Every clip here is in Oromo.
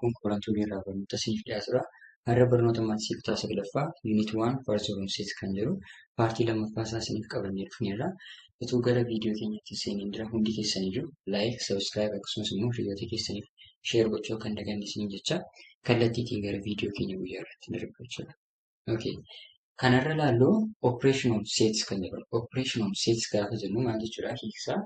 Kun qorantuu irraa barnoota siif dhiyaatudha. Har'a barnoota maatisii kutaa saglaffaa yuunit waan paartii barumsiis kan jedhu paartii lammaffaa isaa isiniif qabannee dhufneerra. Utuu gara viidiyoo keenyatti seeniin dura hundi keessanii jiru laayik, sabiskiraayib akkasumas immoo hiriyoota keessaniif sheer gochuu akka hin daganne isiniin jecha kallattiitiin gara viidiyoo keenya guyyaa irratti darba jechuudha. Okay. Kanarra ilaallu operation of sets kan jedhu operation of sets gaafa jennu maal jechuudha hiiksaa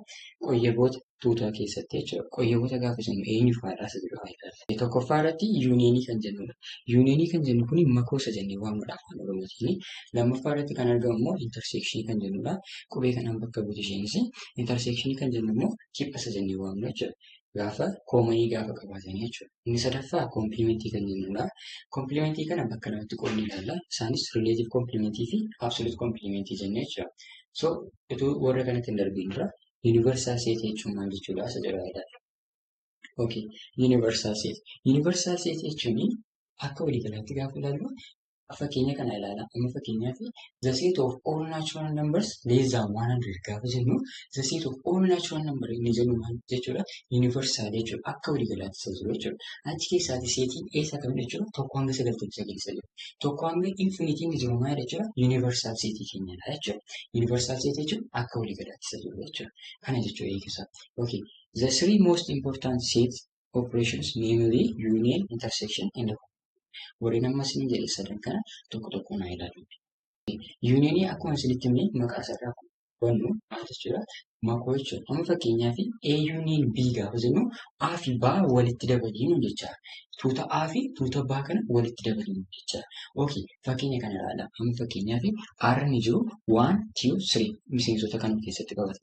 qoyyeboota tuutaa keessatti jechuudha qoyyeboota gaafa jennu eenyu faadhaa isa jedhu haa ilaallu tokkoffaa irratti yuuniyeenii kan jennudha yuuniyeenii kan jennu kun makoosa jennee waamudha afaan oromootiin lammaffaa irratti kan argamu immoo interseekshinii kan jennudha qubee kanaan bakka buutu isheenis interseekshinii kan jennu immoo kiphasa jennee waamna jechuudha gaafa koomanii gaafa qabaatanii jechuudha. Inni sadaffaa koomplimentii kan jennudha. Koomplimentii kana bakka lamatti qoodni ilaalla. Isaanis rileetiv koomplimentii fi absoluut koomplimentii jennee jechuudha. So utuu warra kanatti hin darbiin dura yuunivarsaal seetii jechuun maal jechuudha isa jedhu ilaalla. Okay, yuunivarsaal seetii. Yuunivarsaal seetii jechuun akka waliigalaatti gaafa ilaallu Fakkeenya kana ilaala. Inni fakkeenyaaf the set of all natural numbers less than 100 gaafa jennu the set of all natural number inni jennu maal jechuudha? Universal jechuudha. Akka waliigalaatti isa jiru jechuudha. Achi keessaati seetiin eessa kam jechuudha? Tokko hanga sagaltamii sagal isa jiru. Tokko hanga infinity inni jiru maal jechuudha? Universal seetii keenyadha jechuudha. Universal seetii jechuun akka waliigalaatti isa jiru jechuudha. Kana jechuudha eegisaa. Okay. The three most important sets operations namely union intersection and warreen amma isin jedhe sadan kana tokko tokko naa ilaalu. Yuuniyeenii akkuma isinitti himne maqaa isaarraa hubannu maal jechuudha? Makoo jechuudha. Amma fakkeenyaaf A yuuniin B gaafa jennu A fi B walitti dabaliinu jecha. Tuuta A fi tuuta B kana walitti dabaliinu jecha. Okay, fakkeenya kana ilaala. Amma fakkeenyaaf R ni jiru 1, 2, 3 miseensota kan of keessatti qabata.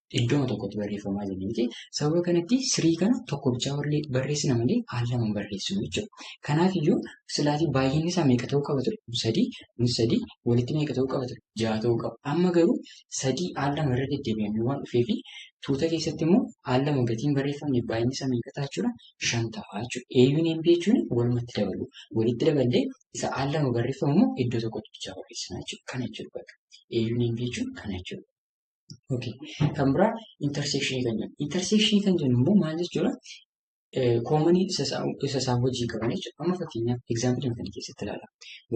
iddooma tokkotti barreeffamaa jiru miti. Sababa kanatti sirii kana tokko bichaa barreessina malee haal lama hin barreessinu jechuudha. Kanaaf iyyuu silaatii baay'inni isaa meeqa ta'uu qaba ture? Kun sadii, kun sadii, walitti meeqa ta'uu qaba ture? Ja'a ta'uu qaba. Amma garuu sadii haal lama irra deddeebi'amee waan dhufee fi tuuta keessatti immoo haal lama gatiin barreeffamne baay'inni isaa meeqa ta'a jechuudha? Shan ta'a jechuudha. Eeyyuun hin jechuun walumatti dabalu. Walitti daballee isa haal lama barreeffamu immoo iddoo tokkotti bichaa barreessina jechuudha. Kana jechuudha bakka. Eeyyuun hin jechuun kana jechuudha. Okay. Kan biraa interseekshinii kan jennu. Interseekshinii kan jennu immoo maal jechuudha? Koomanii isa isaan hojii qaban jechuudha. Amma fakkeenyaaf egzaampilii kana keessatti ilaala.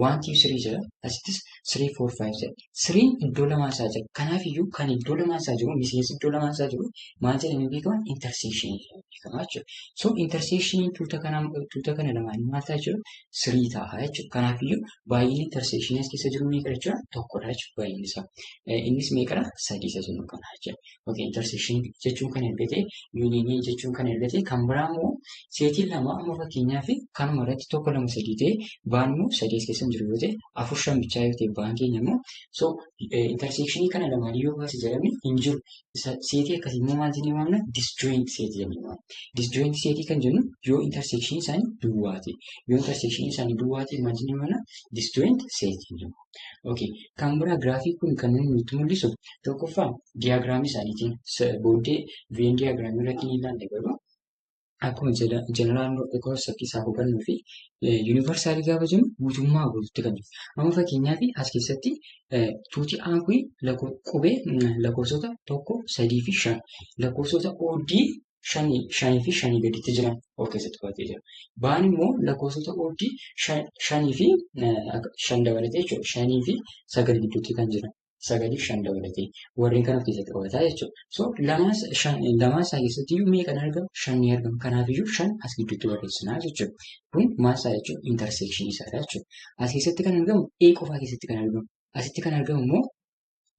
Wanti sirii jira. Asittis sirii foor faayiv jira. Siriin iddoo lamaan isaa jira. Kanaaf iyyuu kan iddoo lamaan isaa jiru miseensi iddoo lamaan isaa jiru maal jedhamee beekama? Interseekshinii jedhamee beekama jechuudha. So interseekshiniin tuuta kana tuuta kana lamaan maal ta'a jechuudha? Sirii ta'a jechuudha. Kanaaf iyyuu Baay'inni intersekshinii as keessa jiru meeqa jechuudha? Tokkodha jechuudha baay'inni isaa. Innis meeqadha? Sadii isa jennu kana jechuudha. Yookiin intersekshinii jechuun kan erga ta'e, yuuniinii jechuun kan erga ta'e, kan biraa immoo seetiin lama amma fakkeenyaaf kanuma irratti tokko lama sadii ta'e baan immoo sadii as keessa hin jiru yoo ta'e afur shan bichaa yoo ta'e baan keenya immoo so intersekshinii kana lamaan yoo baase jedhamne hin jiru seetii akkasii immoo maal jennee waamna? Disjoint seetii jennee waamna. Disjoint seetii kan jennu yoo interseekshinii isaanii duwwaa ta'e. Yoo interseekshinii isaanii duwwaa ta'e maal jennee waamna? Disjoint seetii jennee waamna. Okay. Kan biraa giraafii kun kan inni nutti mul'isu tokkoffaa diyaagiraamii isaaniitiin booddee veen diyaagiraamii irratti ni ilaalla garuu akkuma jeneraan koo saffisaa hubannuu fi yuunivarsaalii gaafa jennu guutummaa guututti kan jiru. Amma fakkeenyaaf as keessatti tuuti aan kun qubee lakkoofsota tokko sadii fi shan lakkoofsota oddii shanii fi shanii gaditti jiran of keessatti qabatee jira. Baan immoo lakkoofsota oddii shanii fi shan dabalatee jechuudha. Shanii fi sagal gidduutti kan jiran. sagalii shan dabalatee warreen kana of keessatti qabataa jechuudha. So lamaa isaa keessatti iyyuu meeqa ni argama? Shan ni argama. Kanaaf iyyuu shan as gidduutti barreessinaa jechuudha. Kun maal isaa jechuudha? Interseekshinii isaa jechuudha. As keessatti kan argamu A qofaa keessatti kan argamu. Asitti kan argamu immoo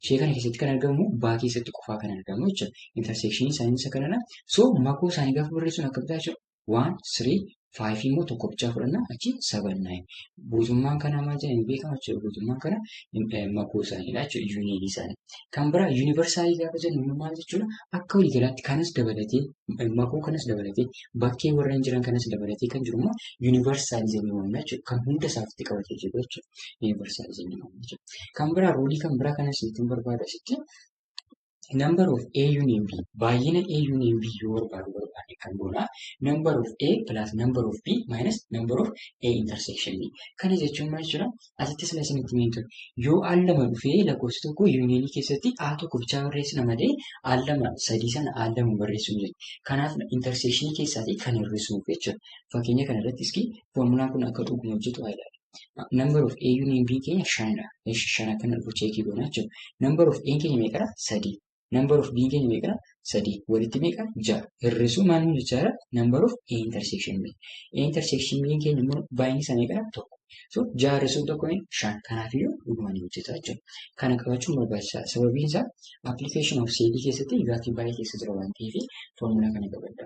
ishee kana keessatti kan argamu baa keessatti qofaa kan argamu jechuudha. Interseekshinii isaanii isa kanadha. So makoo isaanii gaafa barreessuun akkamitti jechuudha? 1, 3, 5 immoo tokko bichaa fudhanna achi 7, 9. Guutummaan kana maal jedhanii hin beekamu jechuudha. Guutummaan kana makuu isaaniidha jechuudha yuuniinii isaanii. Kan biraa yuunivarsaalii gaafa jennu immoo maal jechuudha? Akka waliigalaatti kanas dabalatee makuu kanas dabalatee bakkee warreen jiran kanas dabalatee kan jiru immoo yuunivarsaalii jennee waamna jechuudha. Kan hunda isaa ofitti qabatee jiru jechuudha. Yuunivarsaalii jennee waamna jechuudha. Kan biraa ruulii kan biraa kanas ittiin barbaadu asitti the number of A union B baay'ina A union B yoo barbaadu barbaade kan goona number of A plus number of B minus number of A intersection B kana jechuun maal jira asitti sila isinitti himeen ture yoo al lama dhufee lakkoofsi tokko yuuniyeenii keessatti A tokko bichaa barreessina malee al lama sadii sana al lama barreessuu hin jirti kanaaf intersection keessaatii kan hir'isuuf jechuudha fakkeenya kana irratti iski foormulaan kun akka dhuguma hojjetu haa ilaalu. Number of A union B keenya shanidha. Eeshi shan akka inni dhufu cheekii goona jechuudha. Number of A keenya meeqadha? Sadii. Number of B keenya meeqadha? Sadii. Walitti meeqa? Ja'a. Hir'isuu maal nu jechaadha? Number of A intersection B. A intersection B keenya immoo baay'inni isaa meeqadha? Tokko. So ja'a hir'isuu tokko shan. Kanaafiyyuu dhuguma ni hojjeta jechuudha. Kana qabachuun barbaachisaadha. Sababiin isaa application of seetii keessatti gaaffii baay'ee keessa jira waan ta'eef foormulaa kana qabadha.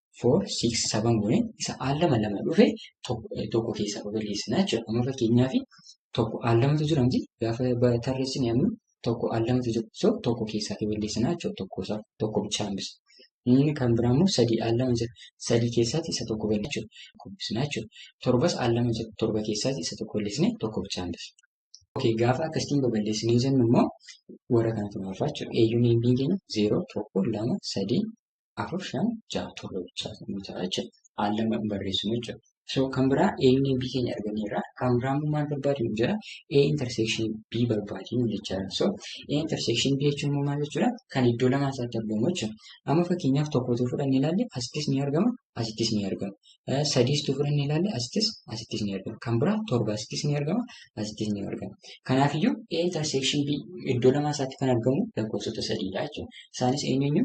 four, six, seven gune isa al lama lama dhufe tokko eh, tokko keessaa balleessina jechuudha. Amma fakkeenyaaf tokko al lamatu jira miti gaafa ba- tarreessine amma tokko al lamatu jira. So tokko keessaa balleessina jechuudha tokko isaa tokko bichaa hambisa. Inni kan biraa immoo sadii al lama jira. Sadii keessaatti isa tokko balleessina jechuudha. Tokko hambisna jechuudha. Torbas al lama jira. Torba keessaatti isa tokko balleessine tokko bichaa hambisa. Okay, gaafa akkasitiin babal'isnee jennu immoo warra kana tumaafaa jechuudha. Eeyyuun eebbii keenya zeeroo, tokko, lama, sadii, afur, shan, ja'a, torba bichaa kan nuti ta'a jechuudha. Haal lama barreessinu jechuudha. So kan biraa eeyyuun eebbii keenya arganneerra. Kan biraa immoo maal barbaadu nu jira? A intersection B barbaadu nu jechaadha. So A intersection B jechuun immoo maal jechuudha? Kan iddoo lamaa isaatti argamu jechuudha. Amma fakkeenyaaf tokkotu fudhannee ilaalle asittis ni argama, asittis ni argama. Sadiis tufur inni ilaalle asittis asittis ni argama. Kan biraa torba asittis ni argama asittis ni argama. Kanaafiyyuu A intersection B iddoo lamaa isaatti kan argamu lakkoofsota sadiidha jechuudha. Isaanis eenyuunyu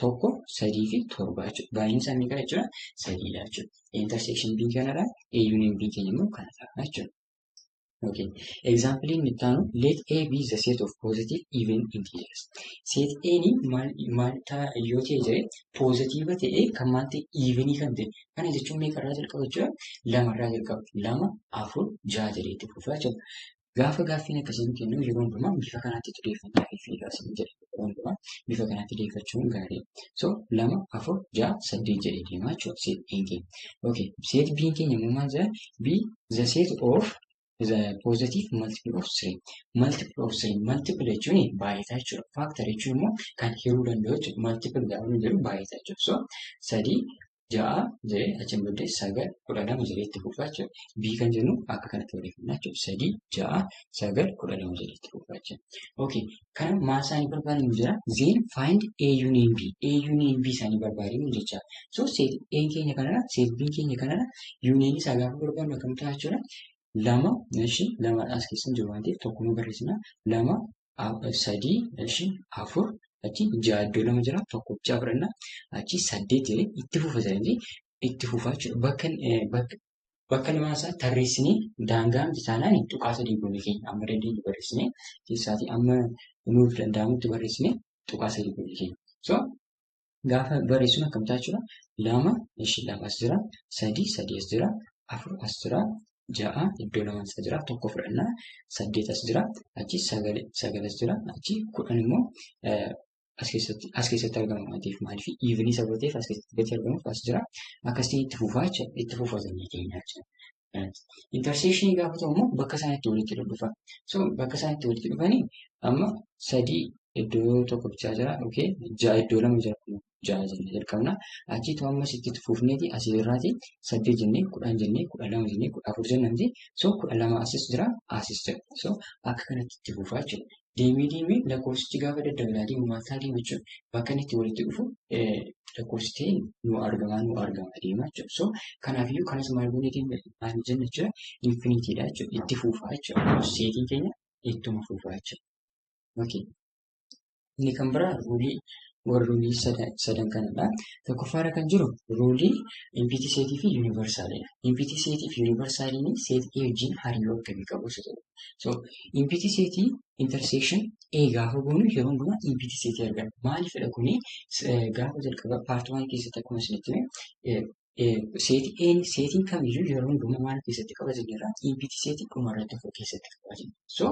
tokko sadii fi torba jechuudha. Baay'inni isaa meeqa jechuudha? Sadiidha jechuudha. A intersection B kanadha. A union B keenya immoo kanadha jechuudha. Okay. Example inni itti aanu let A be the set of positive even integers. Set A ni maal maal ta'a yoo ta'e jedhee positive ta'ee kan maal ta'e even kan ta'e. Kana jechuun meeqa irraa jalqaba jechuudha? Lama irraa jalqaba. Lama, afur, ja'a jedhee itti fufaa jechuudha. Gaafa gaaffiin akkasii nu kennu yeroo hundumaa bifa kanaatti xiyyeeffannaa fi fiigaa isin jedha. waan qaba. Bifa kanatti deeffachuun gaarii. So lama afur ja'a saddeet jedhee deemaa jechuudha seet biin keenya. Okay seet biin keenya immoo maal jedha B the set of the positive multiple of three. Multiple of three multiple jechuun baay'ataa jechuudha. Factor jechuun immoo kan hiruu danda'u jechuudha. Multiple gaafa nu jedhu baay'ataa jechuudha. So sadii ja'a jedhee achiin booddee sagal kudha lama jedhee itti fufa jechuudha. B kan jennu akka kanatti barreeffamna jechuudha. Sadii ja'a sagal kudha lama jedhee itti fufa jechuudha. Okay. Kana maal isaanii barbaadnu jira? Zeen find A union B. A union B isaanii barbaadnu jecha. So seet A keenya kanarra seet B keenya kanarra union isaa gaafa barbaadnu akkam ta'a jechuudha. Lama ishii lama as keessa jiru waan ta'eef tokkuma barreessina. Lama sadii ishi afur achi ja'a iddoo lama jira tokko ja'a fudhanna achi saddeet jedhee itti fufa jedhanii itti fufaa jechuudha. Bakka eh, bakka bakka lamaan isaa tarreessinee daangaan isaanii tuqaa sadii goone keenya amma dandeenye barreessinee keessaatii amma nuuf danda'amutti barreessinee tuqaa sadii goone keenya. So gaafa barreessuun akkamitti jechuudha. Lama ishii lama as jira. Sadii sadii as jira. Afur as jira. Ja'a iddoo lama as jira. Tokko fudhannaa. Saddeet as jira. Achi sagal sagal as jira. Achi kudhan immoo as keessatti as keessatti argama waan ta'eef maaliif iivni saba ta'eef as keessatti gatii argamuuf as jira. Akkasitti itti fufaa jechuudha. Itti fufatanii keenya jechuudha. Interseekshinii gaafa ta'u immoo bakka isaan itti walitti dhufa. So bakka isaan itti walitti dhufanii amma sadii iddoo tokko bichaa jira okay ja'a iddoo lama jira ja'a jennee jalqabna. Achiitu ammas itti fufneeti asii irraati saddeet jennee kudhan jennee kudha lama jennee kudha afur jennamti. So kudha lama asis jira asis jira. So akka kanatti itti fufaa jechuudha. deemee deemee lakkoofsichi gaafa daddabe laa deemu maal ta'a deema jechuudha. Bakka inni itti walitti dhufu lakkoofsi ta'e nu argamaa nu argamaa deema jechuudha. So kanaafiyyuu kanas maal goonee deemna maal jenna jechuudha infinitiidha jechuudha itti fuufaa jechuudha. Seetiin keenya ittuma fuufaa jechuudha. Okay. Inni kan biraa ruulii warra ruulii sadan kanadha. Tokkoffaarra kan jiru ruulii impiitii seetii fi yuunivarsaaliidha. Impiitii seetii fi yuunivarsaaliin seetii A wajjin hariiroo akkamii qabu isa jedhu. So impiti seetii intersection A gaafa goonu yeroo hundumaa impiti seetii arganna. Maaliifidha kuni gaafa jalqaba paartii waan keessatti akkuma isinitti seetii A seetiin kamiyyuu yeroo hundumaa maal keessatti qaba jenneerra impiti seetii dhuma irratti of keessatti qaba jenna. So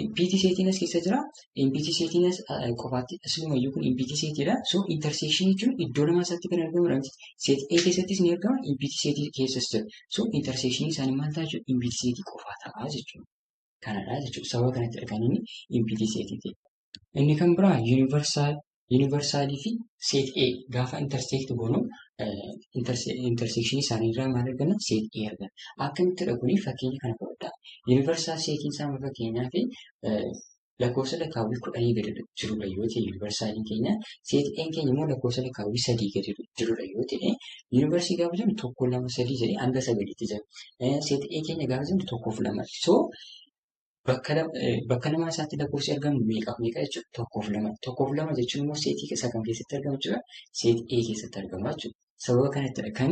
impiti seetiin as keessa jira. Impiti seetiin as qofaatti asumayyuu kun impiti seetiidha. So intersection jechuun iddoo lama isaatti kan argamudha. Seetii A keessattis ni argama impiti seetii keessas jira. So intersection isaanii maal ta'a jechuudha? Impiti seetii qofaa ta'a jechuudha. Kanadha jechuudha. Sababa kanattidha kan inni impiti seetii ta'e. Inni kan biraa yuunivarsaal yuunivarsaalii fi seet A gaafa interseekt goonu interseekshinii isaanii irraa maal arganna? Seet A arganna. Akkamittidha kuni fakkeenya kana fudhadhaa. Yuunivarsaal seetiin isaa fakkeenyaaf lakkoofsa lakkaawwii kudhanii gadi jirudha yoo ta'e yuunivarsaaliin keenya seet E'n keenya immoo lakkoofsa lakkaawwii sadii gadi jirudha yoo ta'e yuunivarsii gaafa jennu tokko lama sadii jedhee hanga sagaliitti jira. Seet E keenya gaafa jennu tokkoof lama. So bakka lama bakka lamaa isaatti lakkoofsi argamu meeqaaf meeqa jechuudha tokkoof lama. Tokkoof lama jechuun immoo seetii isaa kam keessatti argamu jechuudha seet E keessatti argama jechuudha. Sababa kanattidha kan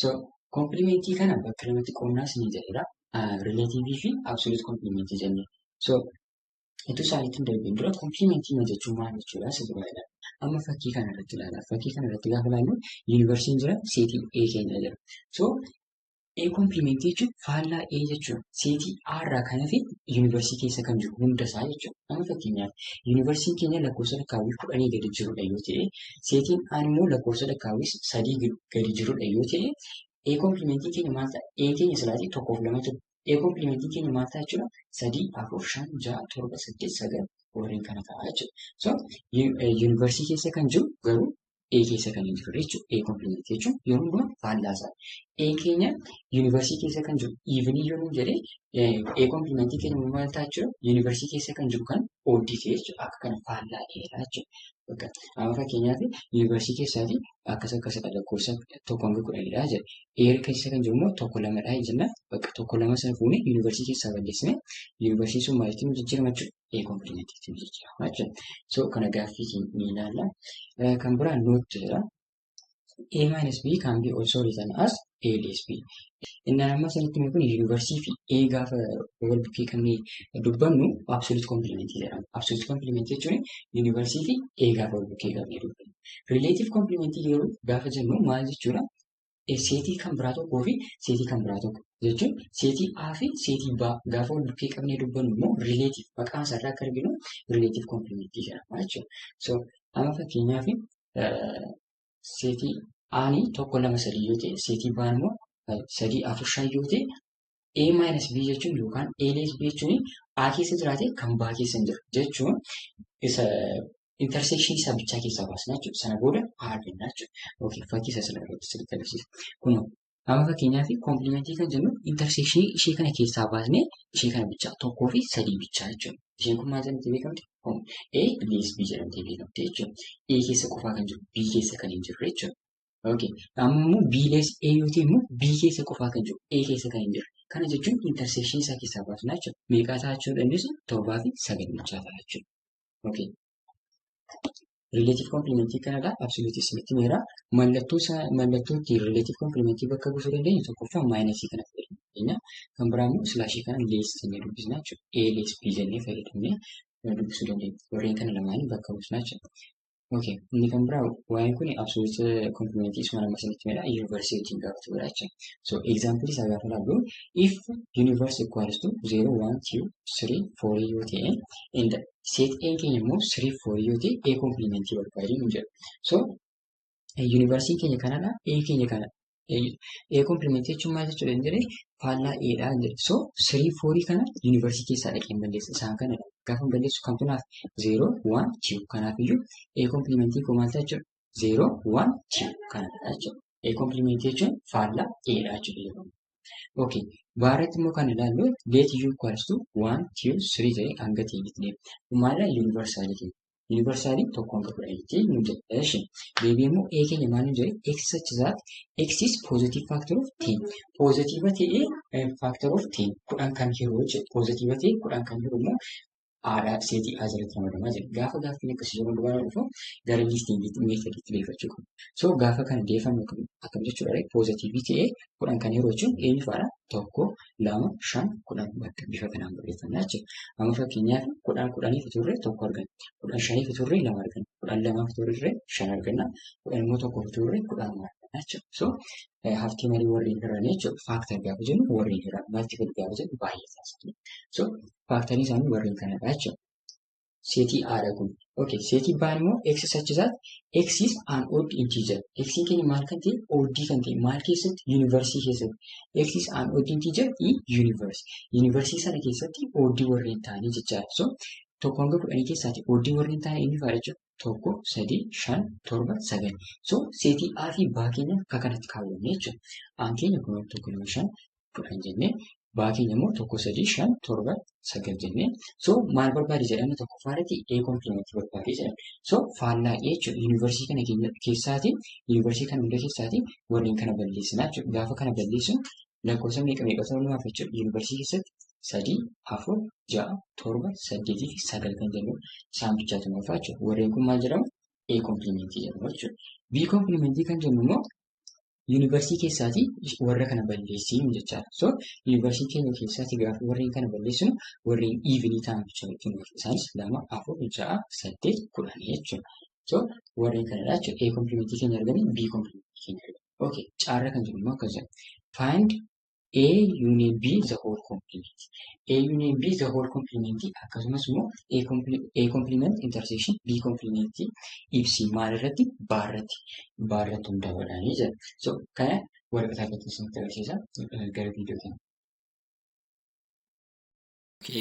So kompilimentii kana bakka lamatti qoonnaas ni jedhedha. Rileetiivii fi absoluut kompilimentii jennee. So itti isaaniitti hin darbiin dura kompilimentii ma jechuun maal jechuudha isa duraadha. Amma fakkii kana irratti ilaala. Fakkii kana irratti gaafa ilaallu yuunivarsiitiin jira seetii A keenya jira. So A kompilimentii jechuun faallaa A jechuudha. Seetii A irraa kan hafe yuunivarsiitii keessa kan jiru hunda isaa jechuudha. Amma fakkeenyaaf yuunivarsiitiin keenya lakkoofsa lakkaawwii kudhanii gadi jirudha yoo ta'e seetiin A immoo lakkoofsa lakkaawwii sadii gadi jirudha yoo ta'e A kompilimentii keenya maal ta'a? A keenya silaatii tokkoof lama ture. A kompilimentii keenya maal ta'a jechuudha? Sadii, afur, shan, ja'a, torba, saddeet, sagal warreen kana ta'a jechuudha. So yuunivarsiitii keessa kan jiru garuu A keessa kan hin jirre jechuudha. A kompilimentii jechuun yeroo hundumaa faallaa isaa. A keenya yuunivarsiitii keessa kan jiru iivinii yoo nuun jedhee A kompilimentii keenya maal ta'a jechuudha? Yuunivarsiitii keessa kan jiru kan oddii ta'e jechuudha. Akka kana faallaa dheeraa jechuudha. Bakka amma fakkeenyaaf yuunivarsiitii keessaati akkas akkasidha lakkoofsa tokko hanga kudhanidha jedha. Eer keessa kan jiru immoo tokko lamadha jenna. Bakka tokko lama sana fuunee yuunivarsiitii keessaa balleessine yuunivarsiitiin sun maalitti nu jijjiirama jechuudha. Ee kompilimentiitti nu jijjiirama jechuudha. So kana gaaffii ni ilaalla. Kan biraa noottu jira. A minus B can be also written as A less B. Inni amma sanitti mee kun yuunivarsiitii fi A gaafa wal bukkee qabnee dubbannu absolute complement jedhama. Absolute complement jechuun yuunivarsiitii fi A gaafa wal bukkee qabnee dubbannu. Relative complement yeroo gaafa jennu maal jechuudha? Seetii kan biraa tokkoo fi seetii kan biraa tokko jechuun seetii A fi seetii B gaafa wal bukkee qabnee dubbannu immoo relative maqaa isaarraa akka arginu relative complement jedhama jechuudha. So amma fakkeenyaaf seetii aani tokko lama sadii yoo ta'e seetii baan immoo sadii afur shan yoo ta'e A minus B jechuun yookaan A less B jechuun A keessa jiraate kan B keessa hin jiru jechuun isa intersection isaa bichaa keessaa baasna jechuudha. Sana booda A arganna jechuudha. Yookiin fakkii isa sana irratti sirriitti agarsiisa. Kun Amma fakkeenyaaf koomplimentii kan jennu interseekshinii ishee kana keessaa baasnee ishee kana bichaa tokkoo fi sadii bichaa jechuudha. Isheen kun maal jedhamtee beekamti? A plus B jedhamtee beekamti jechuudha. A keessa qofaa kan jiru B keessa kan hin jirre jechuudha. Okay. Amma immoo B less A yoo ta'e immoo B keessa qofaa kan jiru A keessa kan hin jirre. Kana jechuun interseekshinii isaa keessaa baasnaa jechuudha. Meeqaa ta'a jechuu dandeessu? Torbaa fi sagal bichaa ta'a jechuudha. Okay. Rileetif komplimentii kanadha. Absoluutii isinitti meera. Mallattoo isaa mallattoo ittiin rileetif komplimentii bakka buusuu dandeenyu tokkoffaa maayinasii kana fayyadamuu dandeenya. Kan biraa immoo silaashii kana lees jennee dubbisna jechuudha. A lees B jennee fayyadamnee dubbisuu dandeenya. Warreen kana lamaanii bakka buusna jechuudha. Okay. Inni kan biraa waa'een kun absoluut komplimentii isuma nama isinitti meera. Yuunivarsiitii wajjin gaafatu godha jechuudha. So example isaa gaafa ilaallu if universe equals to 0, 1, 2, 3, 4 yoo ta'e and Seet E'n keenya immoo sirii foorii yoo ta'e A komplimentii barbaadi nu jedha. So yuunivarsiitiin keenya kanadha A keenya kana. A komplimentii jechuun maal jechuudha hin jedhee faallaa A dha hin jedhe. So sirii foorii kana yuunivarsiitii keessaa dhaqeen balleessa isaan kanadha. Gaafa balleessu kamtu naaf zeeroo waan jiru kanaaf iyyuu A komplimentii koo maal ta'a jechuudha 0, 1, 2 kana jechuudha. A complement jechuun faallaa A dha jechuudha. Okay. Baarratti immoo kan ilaallu let u equals to 1, 2, 3 ta'ee hanga ta'etti deema. Maala yuunivarsaalii keenya. Yuunivarsaalii tokko hanga kudha jettee nu jedha. Eshi. Deebii immoo A keenya maal nu jedhe x such that x is positive factor of 10. Positive ta'ee factor of 10 kudhan kan hiruu jechuudha. Positive ta'ee kudhan kan hiruu immoo aadaa seetii A jalatti ramadamaa jira. Gaafa gaaffiin akkasii yeroo dubaraa dhufu gara liistiingiitti meetodiitti deeffachuu qabna. So gaafa kana deeffamu akkam jechuudha ree poozatiivii ta'ee kudhan kan yeroo jechuun eenyu faadha tokko lama shan kudhan bakka bifa kanaan barreeffamna jechuudha. Amma fakkeenyaaf kudhan kudhaniif turre tokko arganna. Kudhan shaniif turre lama arganna. Kudhan lamaaf turre shan arganna. Kudhan immoo tokkoof turre kudhan arganna jechuudha. So haftii malee warreen hiran jechuudha. Faaktar gaafa jennu warreen hiran maaltiif gaafa jennu baay'ee taasifna. So faaktarii isaanii warreen kanadha jechuudha. Seetii A dha kun. Okay, seetii B immoo x such that x is an odd integer. x keenya maal kan ta'e odd kan ta'e maal keessatti yuunivarsiitii keessatti. x is an odd integer in universe. Yuunivarsiitii sana keessatti odd warreen ta'anii jechaadha. So tokko hanga kudhanii keessaati odd warreen ta'an inni fa'a jechuudha. Tokko, sadii, shan, torba, sagal. So seetii A fi B keenya akka kanatti kaawwanne jechuudha. Aan keenya kun tokko lama shan kudhan jennee baa keenya immoo tokko sadii shan torba sagal jennee so maal barbaade jedhama tokkoffaa irratti ee kompilimentii barbaade jedhama so faallaa ee jechuudha yuunivarsiitii kana keenya keessaati yuunivarsiitii kana hunda keessaati warreen kana balleessinaa jechuudha gaafa kana balleessinu lakkoofsa meeqa meeqa ta'uu nuuf jechuudha yuunivarsiitii keessatti sadii afur ja'a torba saddeetii fi sagal kan jennu isaan bichaatu nuuf jechuudha warreen kun maal jedhamu ee kompilimentii jedhamu jechuudha bii kompilimentii kan jennu immoo yuunivarsiitii keessaatii warra kana balleessinu jechaadha. So yuunivarsiitii keenya keessaatii gaaf warreen kana balleessinu warreen iivinii ta'an jechuudha jechuudha. Isaanis lama, afur, ja'a, saddeet, kudhan jechuudha. So warreen kanadha jechuudha. A komplimentii keenya arganii B komplimentii keenya arganii. Okay, caarra kan jiru immoo akkas jedha. Find A union B the whole complement. A union B the whole complement akkasumas immoo A comple- A complement intersection B complement ibsi maal irratti baa irratti baa irratti hundaa'uudhaanii jira. So kana waraqaa irratti isinitti agarsiisa eh, gara viidiyoo kana.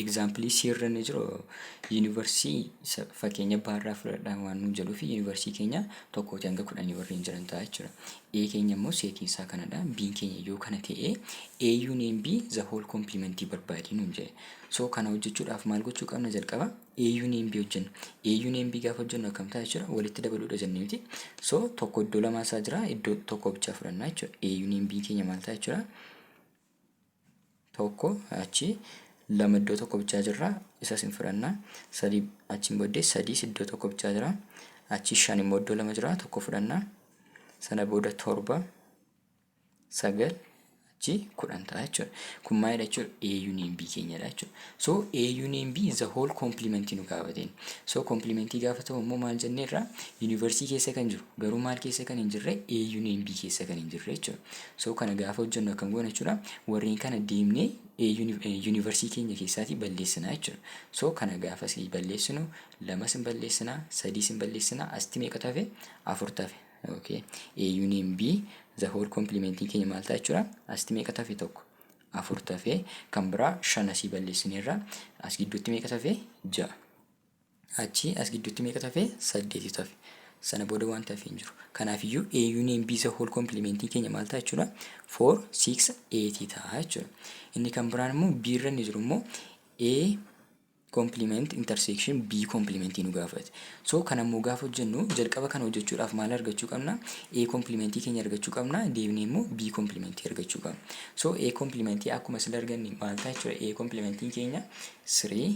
Example C irra ni jiru yuunivarsiitii fakkeenya baarraa fudhadhaa waan nuun jedhuuf yuunivarsiitii keenya tokkootii hanga kudhanii warreen jiran ta'a jechuudha. A keenya immoo seetiin isaa kanadha. B keenya yoo kana ta'e A union B the whole complement barbaadii nuun jedhe. So kana hojjechuudhaaf maal gochuu qabna jalqaba? A union B hojjenna. A union B gaafa hojjennu akkam ta'a jechuudha walitti dabaluudha jennee miti. So tokko iddoo lamaa isaa jira iddoo tokko bichaa fudhannaa jechuudha. A union B keenya maal ta'a jechuudha? tokko achi lama iddoo tokko bichaa jirra isas hin fudhanna sadii achiin booddee sadiis iddoo tokko bichaa jira achi shan immoo iddoo lama jira tokko fudhanna sana booda torba sagal achi kudhan ta'a jechuudha kun maalidha jechuudha A union B keenyadha jechuudha so A union B is the whole complement nu gaafateen so complementii gaafa ta'u immoo maal jenneerra yuunivarsiitii keessa kan jiru garuu maal keessa kan hin jirre A union B keessa kan hin jirre jechuudha So kana gaafa hojjennu akkam goona jechuudha. Warreen kana deemnee yuunivarsiitii keenya keessaatii balleessinaa jechuudha. So kana gaafa sii balleessinu lamas hin balleessinaa, sadiis hin balleessinaa, asitti meeqa tafe? Afur tafe. Okay. A union B the whole complementiin keenya maal ta'a jechuudha? Asitti meeqa tafe tokko? Afur tafe. Kan biraa shan asii balleessineerra. As gidduutti meeqa tafe? Ja'a. Achii as gidduutti meeqatu hafe? Saddeetitu hafe. Sana booda wanti hafe hin jiru. Kanaafiyyuu A union B isa whole complementiin keenya maal ta'a jechuudha? 4, 6, 8 ta'a jechuudha. Inni kan biraan immoo B irra inni jiru immoo A complement intersection B complement nu gaafate. So kan ammoo gaafa hojjennu jalqaba kana hojjechuudhaaf maal argachuu qabna? A complement keenya argachuu qabna. Deebinee immoo B complement argachuu qabna. So A complement akkuma sila arganne maal ta'a jechuudha? A complementiin keenya 3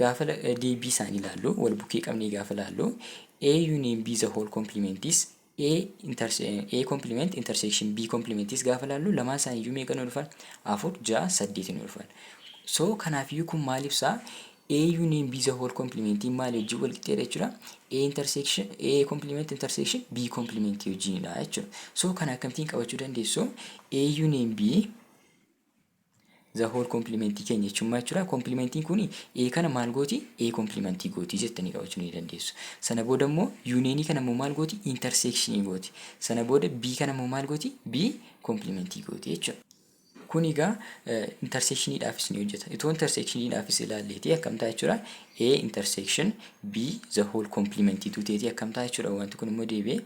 Gaafala deebii isaanii ilaallu, wal bukkee qabnee gaafa ilaallu A union B the whole complement is A, A complement intersection B complement is gaafa ilaallu lamaan isaanii iyyuu meeqa nu dhufan? afur, ja'a, saddeeti nu dhufan. So kanaaf iyyuu kun maal ibsaa? A union B the whole complement maali wajjin wal qixxeedha jechuudha. A intersection A complement intersection B complement wajjinidha jechuudha. So kana akkamittiin qabachuu dandeessu? A union B Zahool komplimentii keenya jechuun maal jechuudha? Komplimentiin kun ee kana maal gooti? Ee komplimentii gooti jettanii qabachuu ni dandeessu. Sana booda immoo yuuneenii kana immoo maal gooti? Interseekshinii gooti. Sana booda bii kana immoo maal gooti? Bii komplimentii gooti jechuudha. Kun egaa interseekshiniidhaafis ni hojjeta. Itoo interseekshiniidhaafis ilaalleetii akkam ta'a jechuudha? A interseekshin B the whole complement tuu ta'eetii akkam ta'a jechuudha? Wanti kun immoo deebi'ee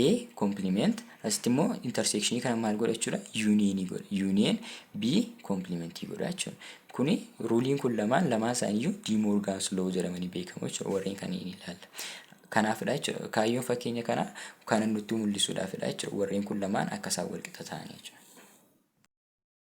A compliment Asitti immoo interseekshinii kana maal godha jechuudha? Yuuniyeenii godha. Yuuniyeen B koomplimentii godha jechuudha. Kuni ruuliin kun lamaan lamaan isaaniiyyuu D Moorgaan's Law jedhamanii beekamu jechuudha. Warreen kanneen ilaalla. Kanaafidha jechuudha. Kaayyoon fakkeenya kanaa kana nutti mul'isuudhaafidha jechuudha. Warreen kun lamaan akka isaan walqixa ta'anii jechuudha.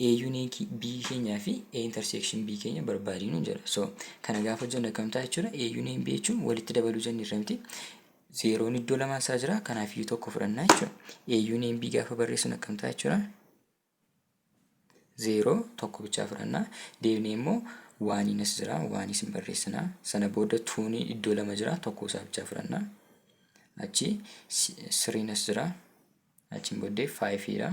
A unique B keenyaa fi A intersection B keenya barbaadi nuun jedha. So kana gaafa hojjennu akkam ta'a jechuudha. A union B jechuun walitti dabaluu jenne irra miti. Zeeroon iddoo lamaa isaa jira. Kanaaf iyyuu tokko fudhannaa jechuudha. A union B gaafa barreessuun akkam ta'a jechuudha. Zeeroo tokko bichaa fudhannaa. Deebinee immoo waaniin as jira. Waaniis hin barreessinaa. Sana booda tuun iddoo lama jira. Tokko isaa bichaa fudhannaa. Achi siriin as jira. Achiin booddee faayifiidha.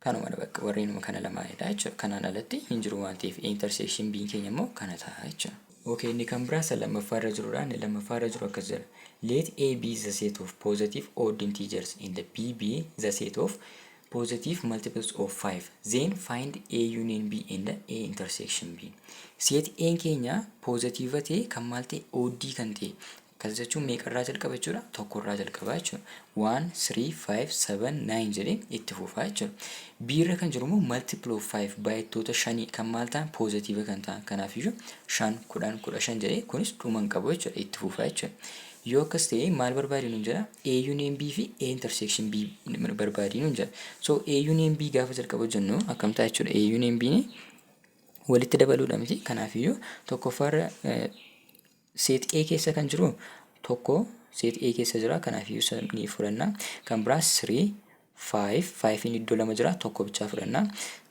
Kanumadha bakka warri inuma kana lamaanidha jechuudha. Kanaan alatti hin jiru waan ta'eef A intersection B'n keenya immoo kana ta'a jechuudha. Okay inni kan biraa isa lammaffaa irra jirudha. Inni lammaffaa irra jiru akkas jedha. Let A be the set of positive odd integers and B be the set of positive multiples of 5. Then find A union B and A intersection B. Set A keenya positive ta'e kan maal ta'e odd kan ta'e Akkas jechuun meeqarraa jalqaba jechuudha? Tokkorraa jalqabaa jechuudha. One, three, five, seven, nine jedheen itti fufaa jechuudha. B irra kan jiru immoo multiple of five baay'attoota shanii kan maal ta'an poozitiiva kan ta'an kanaaf iyyuu shan kudhan kudha shan jedhee kunis dhuma hin qabu jechuudha itti fufaa jechuudha. Yoo akkas ta'e maal barbaadii nuun jedha? A union B fi A intersection B barbaadii nuun jedha. So A union B gaafa jalqaba hojjennu akkam ta'a jechuudha? A union B walitti dabaluudha miti kanaaf iyyuu tokkoffaarra Set A keessa kan jiru tokko set A keessa jira kanaaf iyyuu isa ni fudhanna kan biraa 3 5 5 inni iddoo lama jira tokko bichaa fudhanna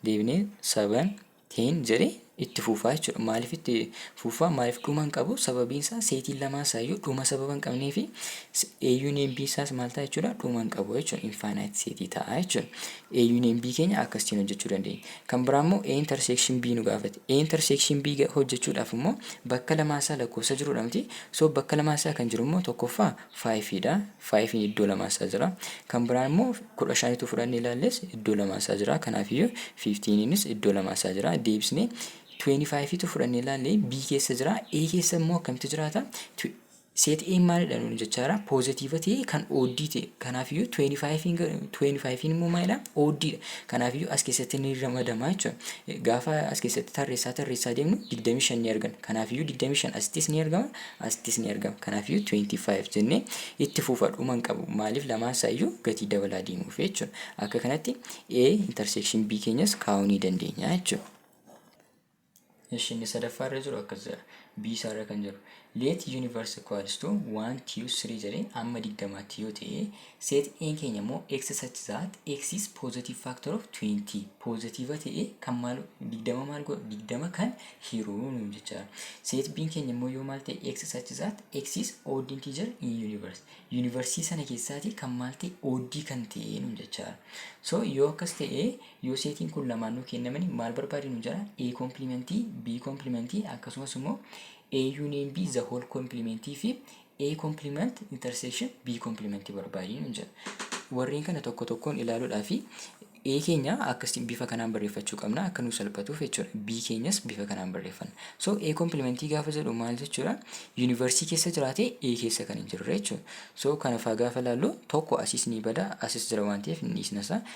deebinee 7 10 jedhe itti fuufaa jechuudha maaliif itti fuufaa maaliif dhuma hin qabu sababiin isaa seetiin lamaan isaa iyyuu dhuma sababa hin qabnee fi eeyyuun eebbii isaas maal ta'a jechuudha dhuma hin qabu jechuudha infaanaayit seetii ta'a jechuudha A union B keenya akkasitiin hojjechuu dandeenya. Kan biraa immoo A intersection B nu gaafate. A intersection B hojjechuudhaaf immoo bakka lamaa isaa lakkoofsa jirudha miti. So bakka lamaa isaa kan jiru immoo tokkoffaa 5 dha. 5 iddoo lamaa isaa jira. Kan biraan immoo 15 tu fudhannee ilaalles iddoo lamaa isaa jira. Kanaafiyyuu 15 nis iddoo lamaa isaa jira. Deebisnee 25 tu fudhannee ilaalle B keessa jira. A keessa immoo akkamitti jiraata? Set A maalidha nuun jechaara positive ta'ee kan odd ta'e kanaafiyyuu 25 25 immoo maalidha odd dha kanaafiyyuu as keessatti ni ramadama jechuudha gaafa as keessatti tarreessaa tarreessaa deemnu 25 ni argana kanaafiyyuu 25 asittis ni argama asittis ni argama kanaafiyyuu 25 jennee itti fufa dhuma hin qabu maaliif lamaan isaayyuu gatii dabalaa deemuuf jechuudha akka kanatti A intersection B keenyas kaa'uu ni dandeenya jechuudha. Ishi inni sadaffaa irra jiru akkas jedha. B isaa irra kan jiru. Let universe equals to 1, 2, 3 jedhee amma digdamaatti yoo ta'e set A'n keenya immoo x such that x is positive factor of 20 positive ta'e kan maal digdama maal godhu digdama kan hiruu nuun jecha set B'n keenya immoo yoo maal ta'e x such that x is odd integer in universe universe sana keessaati kan maal ta'e oddii kan ta'e nuun jecha so yoo akkas ta'e Yoo seetiin kun lamaan nuu kennamani maal barbaadi nu jedha? A complement, B complement akkasumas immoo A union B the whole complement fi A complement intersection B complement barbaadi nu jedha. Warreen kana tokko tokkoon ilaaluudhaa fi A keenya akkasiin bifa kanaan barreeffachuu qabna akka nuu salphatuuf jechuudha. B keenyas bifa kanaan barreeffanna. So A complementii gaafa jedhu maal jechuudha? Yuunivarsiitii keessa jiraatee A keessa kan hin jirre jechuudha. So kanafaa gaafa ilaallu tokko asis ni bada asis jira waan ta'eef hin dhiisna isaa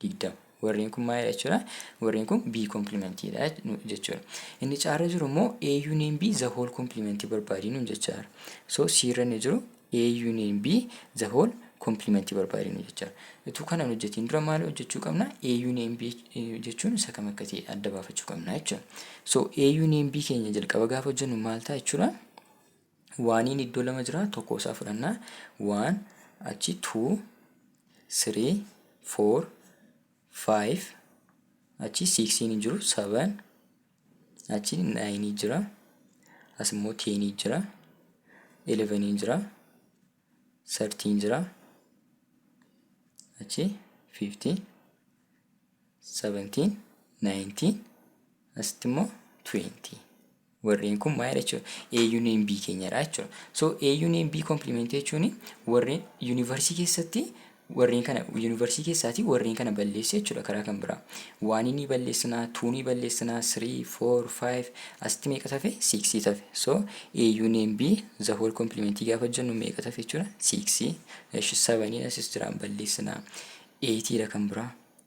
digdama. Warreen kun maalidha jechuudha? Warreen kun B komplimentiidha jechuudha. Inni caarra jiru immoo A union B the whole complement barbaadii nuun jechaa jira. So C irra inni jiru A union B the whole complement barbaadii nuun jechaa jira. Utuu kana hin hojjetiin dura maal hojjechuu qabna? A union B jechuun isa kam akka ta'e adda baafachuu qabna jechuudha. So A union B keenya jalqaba gaafa hojjennu maal ta'a jechuudha? Waaniin iddoo lama jira tokko isaa fudhanna. Waan achi tuu sirii foor faayiv achi siiksiin hin jiru saban achi naayinii jira as immoo teenii jira eleveniin jira sartiin jira achi fiiftii sabantiin naayintiin asitti immoo tuweentii. Warreen kun maalidha jechuudha? A union B keenyadha jechuudha. So A union B complement jechuun warreen yuunivarsiitii keessatti warreen kana yuunivarsiitii keessaatii warreen kana balleessa jechuudha karaa kan biraa. Waanii ni balleessinaa, tuu ni balleessinaa, three, four, five, asitti meeqa tafe? Six tafe. So A union B the whole complement gaafa jennu meeqa tafe jechuudha? Six. Eshi seven asis jiraan balleessinaa. Eight dha kan biraa.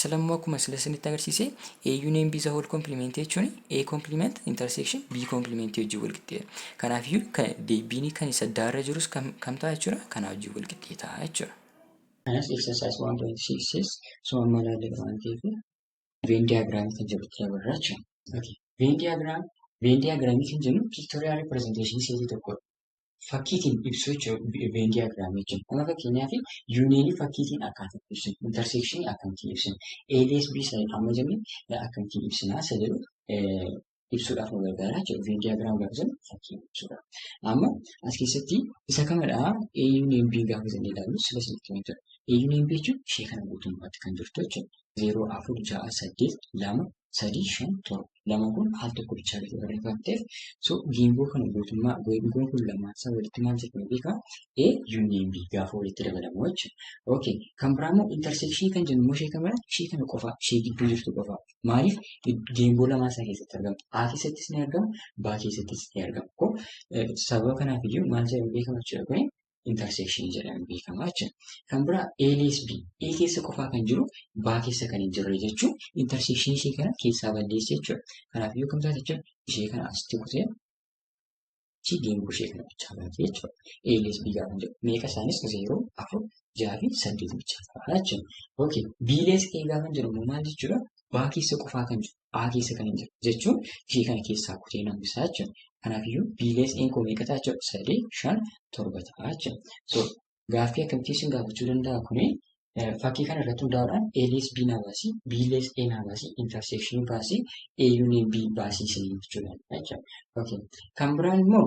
Sila immoo akkuma sila isinitti agarsiise A union B is a whole complement jechuun A complement intersection B complement wajjin wal qixxeedha. Kanaaf iyyuu kan deebiin kan isa daarra jirus kam kam ta'a jechuudha kanaa wajjin wal qixxee ta'a jechuudha. Kanas exercise 1.6 osoo amma ilaalle waan ta'eef veen diyaagiraamii kan jedhutti dabarra jechuudha. Veen diyaagiraamii Veen diyaagiraamii kan jennu piiktooriyaal ripirezenteeshinii seetii tokkodha. fakkiitiin ibsuu jechuudha Venn diagram jechuun. Amma fakkeenyaaf yuuniyeenii fakkiitiin akkaataa ibsinu, interseekshinii akkamittiin ibsinu, ABSB sa'in amma jenne akkamittiin ibsinaa isa jedhu ibsuudhaaf nu gargaara jechuudha. Venn diagram gaafa jennu fakkiin ibsuudha. Amma as keessatti isa kamadha A yuuniyeen B gaafa jennee ilaallu sila sanitti kan jedhu. A yuuniyeen B jechuun ishee kana guutummaatti kan jirtu jechuudha. 0 4 6 8 2 sadii shan torba lama kun al tokko bichaa gadi barreeffamteef so geengoo kana guutummaa geengoon kun lamaan isaa walitti maal jedhama beekaa a union b gaafa walitti dabalamu jechuudha okay kan biraa immoo intersection kan jennu immoo ishee kan biraa ishee kana qofaa ishee gidduu jirtu qofaa maaliif geengoo lamaa isaa keessatti argamu a keessattis ni argamu b keessattis ni argamu kun sababa kanaaf iyyuu maal jedhamu beekama jechuudha kuni intersection jedhamee beekama jechuudha. Kan biraa A lees B. A keessa qofaa kan jiru B keessa kan hin jirre jechuun intersection ishee kana keessaa balleessa jechuudha. Kanaaf yoo kam taate jechuudha ishee kana asitti kutee ishee geengoo ishee kana bichaa baate jechuudha. A lees B gaafa jedhu meeqa isaanis zeeroo afur jaha fi saddeet bichaa ta'a jechuudha. Okay B lees A gaafa jedhu immoo maal jechuudha? B keessa qofaa kan jiru. A keessa kan hin jiru jechuun ishee kana keessaa kutee nan bisaa jechuudha. Kanaafiyyuu B lees A'n koo meeqa ta'a jechuudha? Sadii, shan, torba ta'a jechuudha. So gaaffii akkamitti isin gaafachuu danda'a kuni fakkii kana irratti hundaa'uudhaan A lees B naa baasii, B lees A naa baasii, intersection baasii, A union B baasii isin jechuudha jechuudha. Okay. Kan biraan immoo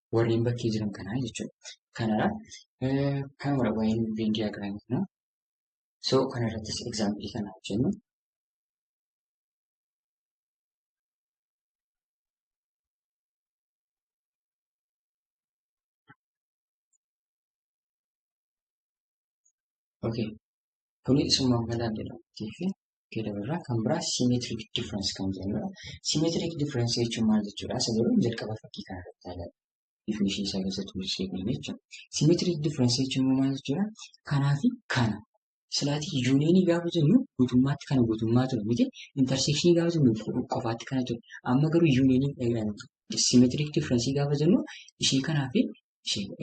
warreen bakkee jiran kanaa jechuudha. Kanadha. Kanuma waa'een Venn diagram kana. So kanarrattis example kana hojjennu. Okay. Kuni isuma mala jedhamtii fi keedabirraa kan biraa symmetric difference kan jedhamudha. Symmetric difference jechuun maal jechuudha? Isa jedhu jalqaba fakkii kana irratti ilaalaa. Definition isaa keessatti mul'isee kan jechuudha. Symmetric difference jechuun maal jechuudha? Kanaa fi kana. Silaatii yuuniyinii gaafa jennu guutummaatti kana guutummaa ture miti. Intersekshinii gaafa jennu qofaatti kana ture. Amma garuu yuuniyinii symmetric difference gaafa jennu ishee kanaa fi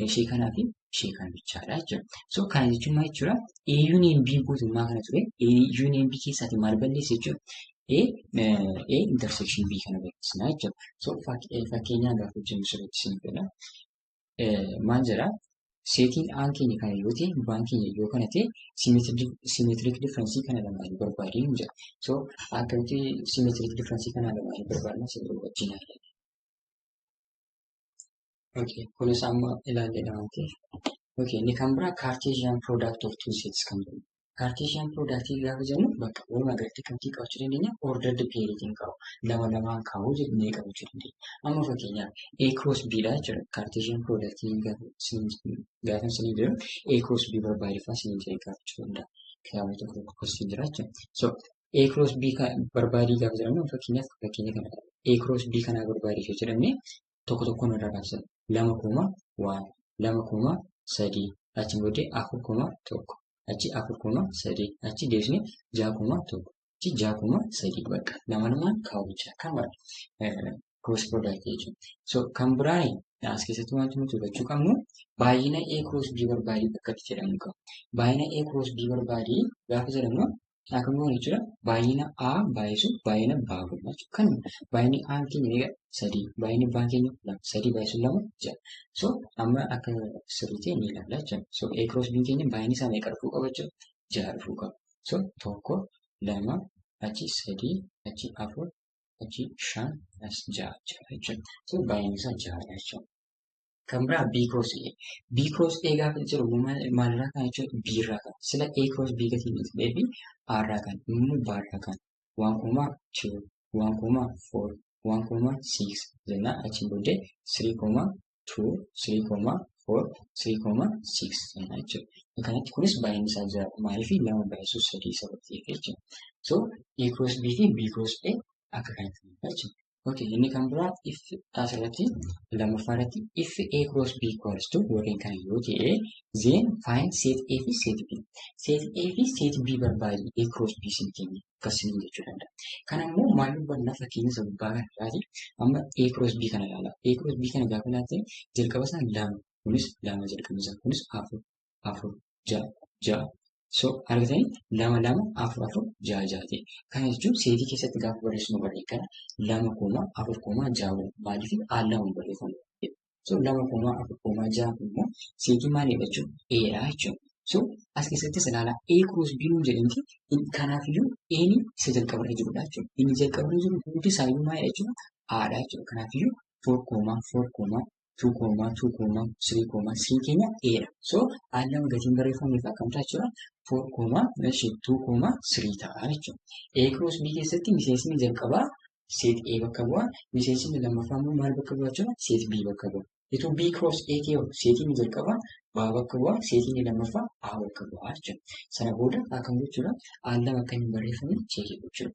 ishee kanaa fi ishee kana bichaadha jechuudha. So kana jechuun maal jechuudha? A union B guutummaa kana ture. A union B keessaati maal balleessa jechuudha? A A intersection B kana balleessina jechuudha. So fakkeenyaa gaafa hojjennu sirriitti isin fedha. Maal jedha? Seetiin aan keenya kana yoo ta'e baan keenya yoo kana ta'e simeetirik differensii kana lamaanii barbaadee hin jedha. So akkamitti simeetirik differensii kana lamaanii barbaadna sirrii wajjin haala. Okay, kunis amma ilaallee dhawaate. Okay, inni kan biraa Cartesian product of two sets kan jedhu. Cartesian product gaafa jennu bakka wal agartee kamtii qabachuu dandeenya ordered pairitiin qabu. Lama lamaan kaa'uu jennee qabachuu dandeenya. Amma fakkeenyaaf A cross B dha jechuudha. Cartesian product gaafa isin jedhu A cross B barbaadifaa isin jedhee gaafachuu danda'a. Kitaabni tokko tokko gosti jira jechuudha. So A cross B barbaadii gaafa jedhamu fakkeenyaaf fakkeenya kana A cross B kanaa barbaadee yoo jedhamne tokko tokkoon irraa kaasa lama kuma waan lama kuma sadii achi booddee afur kuma tokko achi afur kuma sadii achi deebisnee ja'a kuma tokko achi ja'a kuma sadii bakka lama lamaan kaawwachaa kan barate cross product jechuudha. So kan biraan as keessatti wanti nuti hubachuu qabnu baay'ina A cross B barbaadii bakka itti jedhamu qaba. Baay'ina A cross B barbaadii gaafa jedhamu Akkuma kana jechuudha baay'ina A baay'isu baay'ina B godhama jechuudha. Kan baay'inni A keenya meeqa sadii baay'inni B keenya lama sadii baay'isu lama ja'a. So amma akka sirriitti ni ilaalla jechuudha. So A cross B keenya baay'inni isaa meeqa dhufuu qaba jechuudha ja'a dhufuu qaba. So tokko lama achi sadii achi afur achi shan as ja'a ja'a jechuudha. So baay'inni isaa ja'adha jechuudha. Kan biraa B cross A. B cross A gaafa jiru maalirraa kan jechuudha B irraa kan. Sila A cross B gatii miti beebi A irraa kan immoo B irraa kan. Waan koomaa 2 waan koomaa 4 waan koomaa 6 jennaan achiin booddee 3 koomaa 2 3 koomaa 4 3 koomaa 6 jennaan jechuudha. Kanatti kunis baay'inni isaa jira maaliif lama baay'isuu sadii sababtiif jechuudha. So A cross B fi B cross A akka kanatti jechuudha. Okay, inni kan biraa if asirratti lammaffaa irratti if A cross B equals to yookiin kan yoo ta'e then find set A fi set B. Set A fi set B barbaadi A cross B sin keenya akkas sin jechuu danda'a. Kan ammoo maal hubanna fakkeenya isa gubbaa kana irraati amma A cross B kana ilaala. A cross B kana gaafa ilaalte jalqaba isaa lama kunis lama jalqabni isaa kunis afur afur ja'a ja'a. So argitanii lama lama afur afur ja'a ja'a ta'e. Kana jechuun seetii keessatti gaafa barreessinu barree kana lama kooma afur kooma ja'a waliin maaliif al lama barreeffamu. So lama kooma afur kooma ja'a kun immoo seetii maalii jechuun eedha jechuudha. So as keessattis ilaala A cross B nuun jedhamti kanaaf iyyuu A'n isa jalqaba irra jirudha jechuudha. Inni jalqaba irra jiru hundi isaa iyyuu maalidha jechuudha? Aadha jechuudha. Kanaaf iyyuu four kooma four kooma 2 koomaa 2 koomaa 3 koomaa C keenya A dha. So A lama gatiin barreeffameef akkam ta'a jechuudha? 4 koomaa 2 koomaa 3 ta'a jechuudha. A cross B keessatti miseensni jalqabaa seet A bakka bu'a. Miseensni lammaffaa immoo maal bakka bu'a jechuudha? Seet B bakka bu'a. Ituu B cross A kee seetiin jalqabaa B bakka bu'a. Seetiin lammaffaa A bakka bu'a jechuudha. Sana booda akkam gochuudha? A lama akka hin barreeffamne cheekii gochuudha.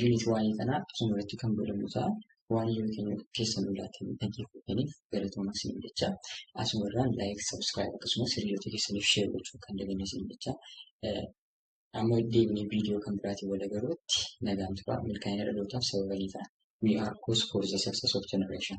Yuunitii waa'ee kanaa akkuma irratti kan godhamu ta'a. Waan yoo keenya keessan ulaatiin dhaggeeffataniif galatoomaa isin jecha asuma irraan laayik sabiskiraayib akkasumas hiriyoota keessaniif sheer gochuu kan daganne isin jecha amma deebinee viidiyoo kan biraatiin wal agarruutti nagaan turaa milkaa'ina dhalootaaf sababa ni ta'a. We are cause for the success of generation.